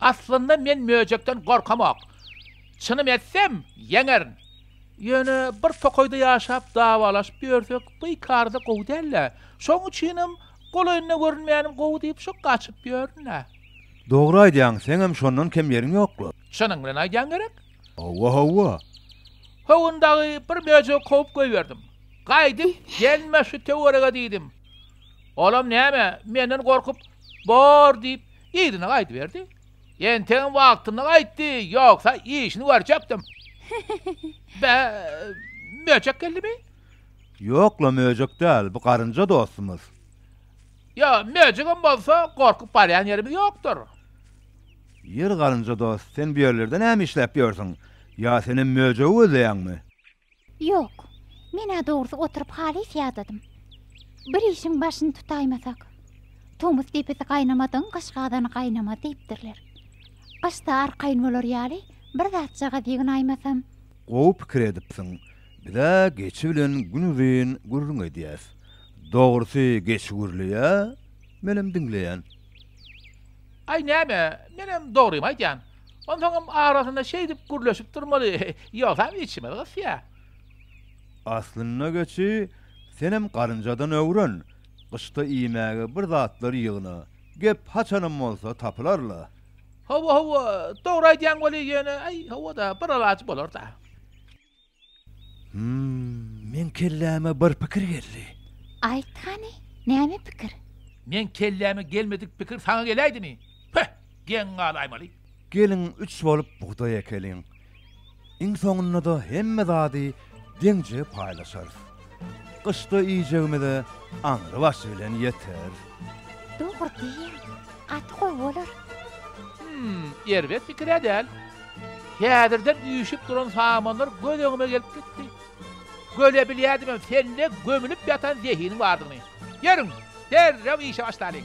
Aslynda men möjekden gorkamok. Çynym etsem, ýeňerin. Ýöne bir tokaýda ýaşap dawalaşyp ýörsek, bikarda gowy däl-dä. Şoň üçinem Golaýynda görünmänim gowy diýip şo gaçyp ýörün-ä. Dogry aýdýaň, seňem şondan kem ýeriň ýok-la. Çynyň bilen aýdýaň gerek? Hawa, hawa. Howun dagy bir möjegi kowup goýberdim. Gaýdyp gelme şu töwerege diýdim. Olam näme, menden gorkup, bor diýip, yzyna gaýdyberdi. Entegem wagtynda gaýtdy, ýogsa işini görjekdim. Bä, möjek geldimi? Ýok-la möjek däl, bu garynja dostumyz. Ýa, möjegem bolsa, gorkup barýan ýerimiz ýokdur. Ýeri garynja dost, sen bu ýerlerde näme işläp ýörsüň? Ýa senem möjegi gözleýäňmi? Ýok. Men-ä dogrusy oturyp halys ýadadym. Bir işiň başyny tutaýmasak. Tomus depesi gaýnamadygyň gyş gazany gaýnamaz diýipdirler. Gyşda arkaýyn bolar ýaly bir zatjagaz ýygnaýmasam. Gowy pikir edipsiň. Biz-ä geçi bilen gün uzyn gürrüň edýäs. Dogrusy, geçi gürleýä, menem diňleýän. Aý, näme, menem dogrymy aýdýan. Onsoňam arasynda şeýdip gürleşip durmaly, ýogsam içimiz gysýa. Aslynda geçi, senem garynjadan öwren, gyşda iýmäge bir zatlar ýygna, gep haçanam bolsa tapylar-la. Hawa, hawa, dogry aýdýaň weli, ýöne, aý, hawa-da, bir alaç bolar-da. Hum, meň kelläme bir pikir geldi. Aýt hany, näme pikir? Meň kelläme gelmedik pikir saňa geläýdimi? Püh, geň gal Aýmaly. Geliň üç bolup bugdaý ekeliň. Iň soňunda-da hemme zady deňje paýlaşarys. Gyşda iýjegimize aňry başy bilen ýeter. Dogry diýýäň. Gaty gowy bolar. Hum, erbet pikir-ä däl. Häzirden üýşüp duran samanlar göz öňüme gelip gitdi. Görebilýädimem sende gömülip ýatan zehiniň bardygyny. Ýörüň, derrew işe başlalyň.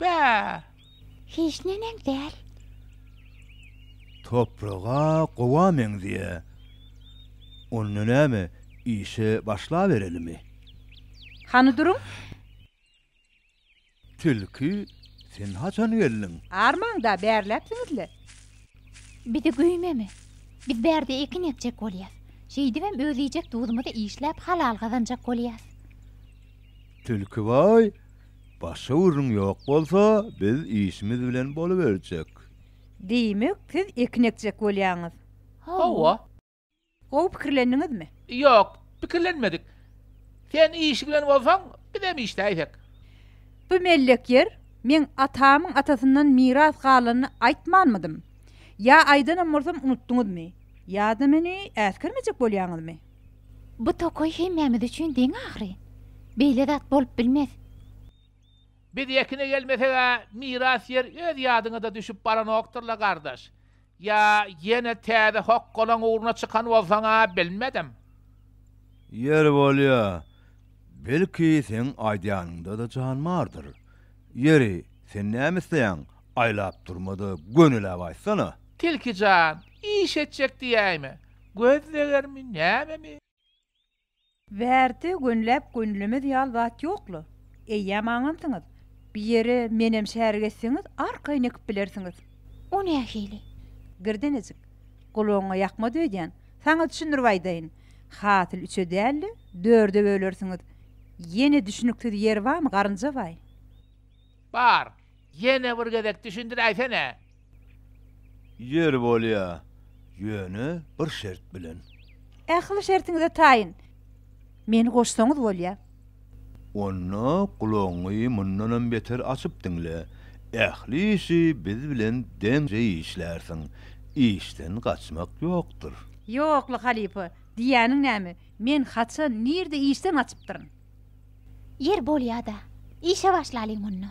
Bäh! Hiç neneň däl. Topraga gowa meňzeýä. Onda näme, işe başlaberelimi? Hany duruň! Tilki, sen haçan geldiň? Armaň-da, bärläpsiňiz-le. Bizi güýmeme. Biz bärde ekin ekjek bolýas. Şeýdibem öz iýjek duzumyzy işläp halal gazanjak bolýas. Tilki, Waý! Başga gürrüň ýok bolsa, biz işimiz bilen boluberjek. Diýmek, siz ekin ekjek bolýaňyz? Hawa. Gowy pikirlendiňizmi? Ýok, pikirlenmedik. Sen işi bilen bolsaň, bizem işläýsek. Bu mellek ýer, men atamyň atasyndan miras galanyny aýtmanmydym? Ýa aýdanam bolsam unutdyňyzmy? Ýa-da meni äsgermejek bolýaňyzmy? Bu tokaý hemmämiz üçin deň ahyry. Beýle zat bolup bilmez. Biz ýekine gelmeseg-ä miras ýer öz ýadyňa-da düşüp baranokdyr-la, gardaş. Ýa ýene täze hokgalaň ugruna çykan bolsaň-a, bilmedim. Ýeri bolýa, belki seň aýdýanyňda-da jan bardyr. Ýeri, sen näme isleýäň, aýlap durma-da, gönüläp aýtsana? Tilki jan, iş etjek diýäýme? Göz zegermi, nämemi? Wärti gönläp gönlemez ýal zat ýok-la. Eýýäm aňansyňyz. Bir ýere menem şärik etseňiz, arkaýyn ekip bilersiňiz. O nähili? Girdenejik. Gulagyňa ýakmaz öýdýän. Saňa düşündirip aýdaýyn. Hasyl üçe däl-de, dörde bölersiňiz. Ýene düşüniksiz ýeri barmy, garynjabaý? Bar. Ýene bir gezek düşündiräýsene. Ýeri bolýa, ýöne bir şert bilen. Ähli şertiňize taýyn. Meni goşsaňyz bolýa. Onda gulagyňy mundanam beter açyp diňle. Ähli işi biz bilen deňje işlärsiň. Işden gaçmak ýokdur. Ýokla halypa, diýýäniň näme? Men haçan, nirde işden gaçypdyryn? Ýeri bolýa-da, işe başlalyň onda.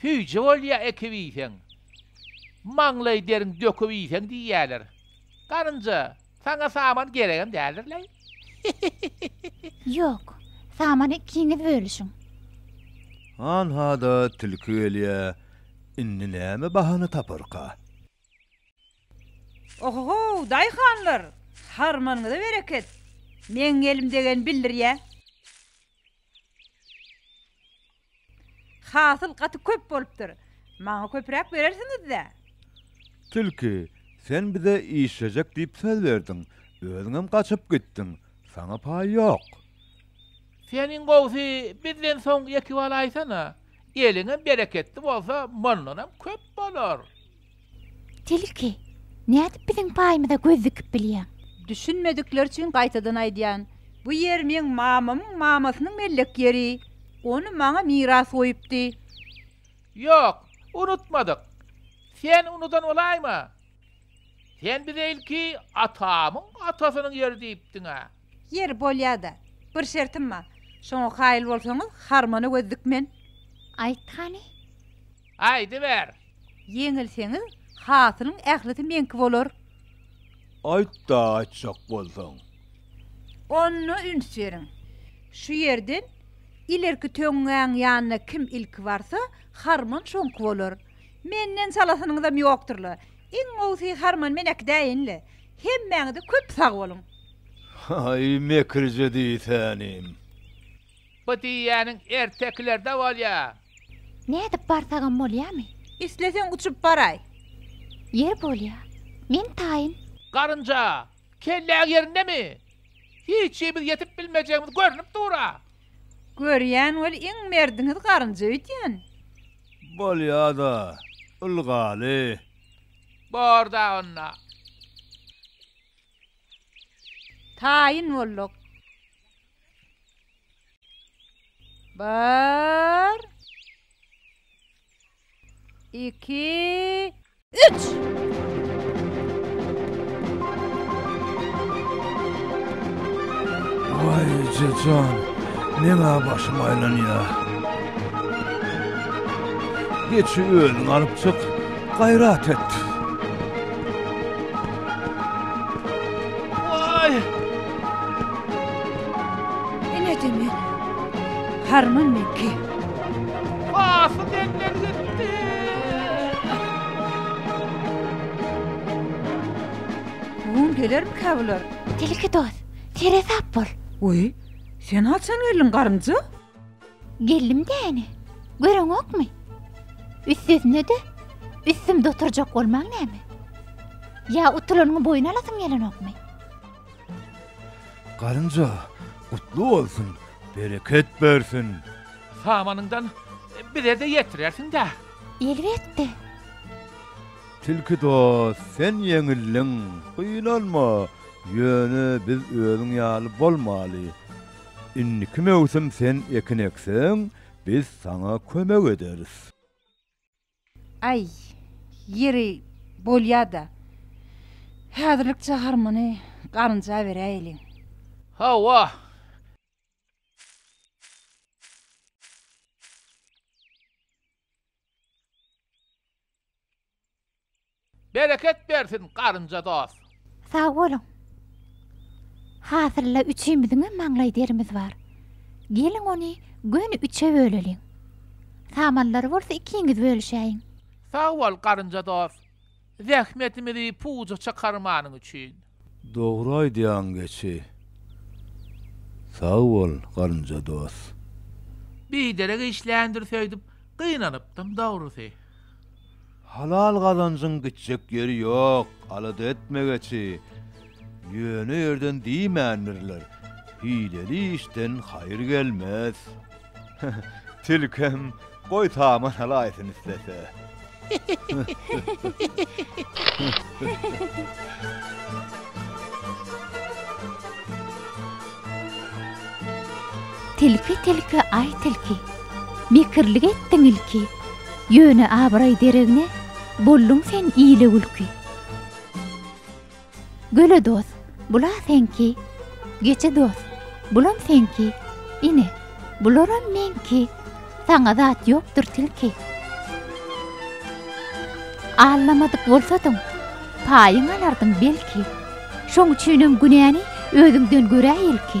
Süýji bolýa ekip iýseň. Maňlaý deriň döküp iýseň diýýäler. Garynja, saňa saman geregem däldir leý. Ýok, samany ikiňiz bölüşiň. Hanha-da tilki gelýä, indi näme bahana taparka? Oho-how, daýhanlar! Harmanyňyza bereket! Meň elim degeni bildirýä. Hasyl gaty köp bolupdyr. Maňa köpräk berersiňiz-dä? Tilki, sen bize işlejek diýip söz berdiň, özüňem gaçyp gitdiň, saňa paý ýok. Sen iň gowusy bizden soňky ýeki baly aýsana. Eliňem bereketli bolsa mundanam köp bolar. Tilki, nädip biziň paýymyza göz dikip bilýäň? Düşünmedikleri üçin gaýtadan aýdýan. Bu ýer meň mamamyň mamasynyň mellek ýeri. Ony maňa miras goýupdy. Ýok, unutmadyk. Sen unudan bolaýma. Sen bize ilki atamyň atasynyň ýeri diýipdiň-ä. Ýeri bolýa-da, bir şertim bar. Şoňa kaýyl bolsaňyz, harmana göz dikmen. Aýt hany. Aýdyber. Ýeňilseňiz, hasylyň ählisi meňki bolar. Aýt-da, aýtjak bolsaň. Onda üns beriň. Şu ýerden ilerki töňňäň ýanyna kim ilki barsa, harman şoňky bolar. Menden çalasynyňyzam ýokdur-la. Iň gowsy harman men äkidäýenle. Hemmäňize köp sag boluň. Haý mekirje diýsänim. Bu diýýäniň ertekilerde bolýa. Nädip barsagam bolýamy. Isleseň uçup baraý. Ýer bolýa. Men taýyn. Garynja, kelläň ýerindemi? Hiçimiz ýetip bilmejegimiz görnüp dur-a. Görýän bol iň merdiňiz garynja öýdýän. Bolýa-da, ylgaly. Bor dagy onda. Taýyn bolduk. Bir. Iki. Üç! Waý, eje jan, men-ä başym aýlanýar. Geçi özüň alyp çyk, gaýrat et. Waý! Ine demi, harman meňki. Hasy deňler gitdi. Gün gelermikä bular? Tilki dost, seresap bol. Oý, sen haçan geldiň, garynja? Geldim däne. Göreňokmy? Üstesine-de, üstümde oturjak bolmaň näme? Ýa utulanyňy boýun alasyň gelenokmy? Galynja, gutly bolsun, bereket bersin! Samanyňdan bize-de ýetirersiň-dä? Elbetde! Tilki dost, sen ýeňildiň, gynanma, ýöne biz özüň ýaly bolmaly. Indiki möwsüm sen ekin ekseň, biz saňa kömek ederis. Aý, ýeri, bolýa-da. Häzirlikçe harmony galynja beräýeliň. Hawa. Bereket bersin garynja dos. Sag boluň. Hasylla üçimiziňem maňlaý derimiz bar. Geliň ony göni üçe böleliň. Samanlary bolsa ikiňiz bölüşäýiň. Sag bol garynja dos. Zähmetimizi puja çykarmanyň üçin. Dogry aýdýaň geçi. Sag bol Garynja dos. Biderek işländir söýdüp gynanypdym dogrusy. Halal gazanjyň gitjek ýeri ýok alada etme geçi ýöne ýerden diýmändirler hileli işden haýyr gelmez. Tilkem goý saman alaýsyn islese. Tilki tilki aý tilki. Mekirlik etdiň ilki. Ýöne abraý deregine bolduň sen ile gülki. Göle dos, bul-a seňki. Geçe dos, bulam seňki. Ine, bularam meňki. Saňa zat ýokdur tilki. Allamadyk bolsadyň, paýyň alardyň belki. Şoň üçinem günäni özüňden görä ilki.